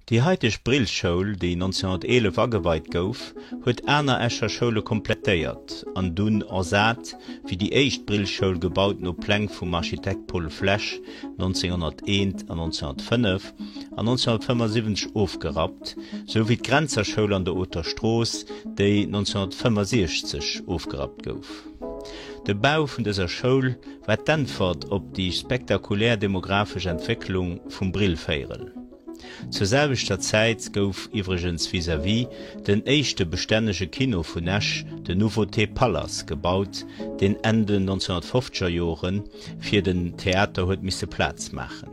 Déi haiteg Brillschoul, déi 1911 ageweit gouf, huet aner Escher Schoule komplettéiert an dunn ersat, wéi déi éischt Brillschoul, gebaut no Pläng vum Architekt Paul Flesch, 1901 an 1905 an 1975 ofgerappt, sou wéi d'Grenzer Schoul an der Oter Strooss, déi 1965 ofgerappt gouf. De Bau vun dëser Schoul war d'Äntwert op déi spektakulär demographesch Entwécklung vum Brillvéierel. Zur selwechter Zäit gouf iwwregens vis-à-vis den éischte bestännege Kino vun Esch, de Nouveauté Palace, gebaut, deen Enn den 1950er Jore fir den Theater huet misse Plaz maachen.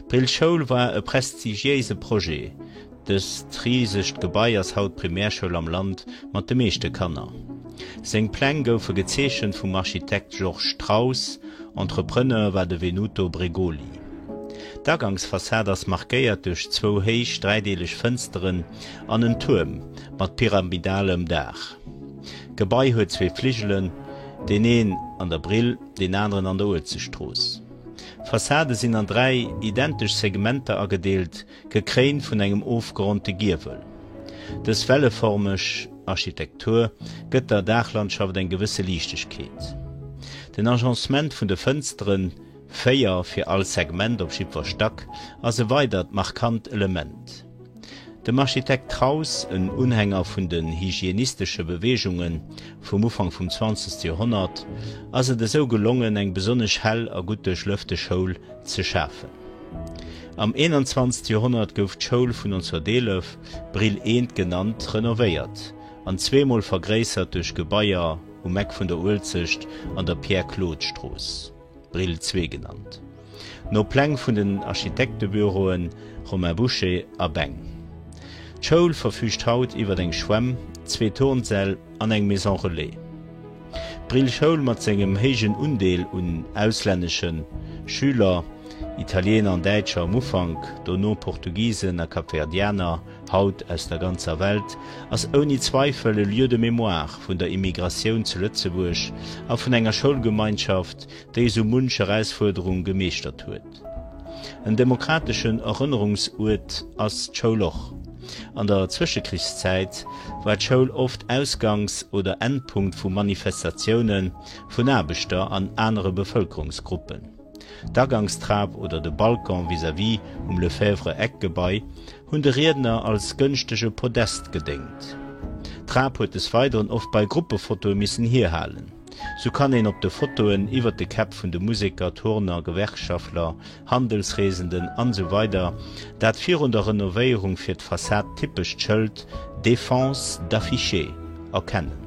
D'Brillschoul war e prestigiéise Projet. Dëst risegt Gebai ass haut d'Primärschoul am Land mat de meeschte Kanner. Seng Pläng goufe gezeechent vum Architekt Georges Straus, Entrepreneur war de Venuto Bregoli. D'Agangsfassad ass markéiert duerch zwou héich dräideeleg Fënsteren an en Tuerm mat pyramidalem Daach. D'Gebai huet zwee Fligelen, deen een an der Brill, deen aneren an der Uelzechtstrooss. D'Fassade sinn an dräi identesch Segmenter agedeelt. Gekréint vun engem ofgeronnte Giewel. Dës welleformeg Architektur gëtt der Daachlandschaft eng gewësse Liichtegkeet. Den Agencement vun de Fënsteren, véier fir all Segment op jiddwer Stack, ass e weidert markant Element. Dem Architekt Traus, en Unhänger vun den hygienistesche Beweegunge vum Ufank vum 20. Joerhonnert, ass et esou gelongen, eng besonnesch hell a gutt duerchlëfte Schoul ze schafen. Am 21. Joerhonnert gouf d'Schoul vun 1911, Brill I, genannt, renovéiert an zweemol vergréissert duerch Gebaier um Eck vun der Uelzecht an der Pierre-Claude-Strooss, Brill ii genannt no Pläng vun den Architektebüroen Romain Bouchet a Beng. D'Schoul verfüügt haut iwwer eng Schwämm, zwee Turnsäll an eng Maison relais. D'Brill Schoul mat sengem héijen Undeel un auslänneschen Schüler, Italiener an Däitscher um Ufank, dono Portugisen a Kapverdianer, haut aus der ganzer Welt, ass ouni Zweifel e Lieu de mémoire vun der Immigratioun zu Lëtzebuerg a vun enger Schoulgemeinschaft, déi esou munch Erausfuerderung gemeeschtert huet. En demokrateschen Erënnerungsuert ass d'Schoul och. An der Zwëschekrichszäit war d'Schoul oft Ausgangs oder Endpunkt vu Manifestatioune vun Aarbechter an anere Bevëlkerungsgruppen. D'Agangstrap oder de Balcon vis-à-vis um Lefèvre-Eck-Gebai hunn de Riedner als gënschtege Podest gedéngt. D'Trap huet des Weideren oft bei Gruppefotoe missen hierhalen. Sou kann een op de Fotoen iwwert de Käpp vun de Museker, Turner, Gewerkschaftler, Handelsreesenden an esou weider dat virun der Renovéierung fir d'Fassad typescht Schëld Défense d'afficher erkennen.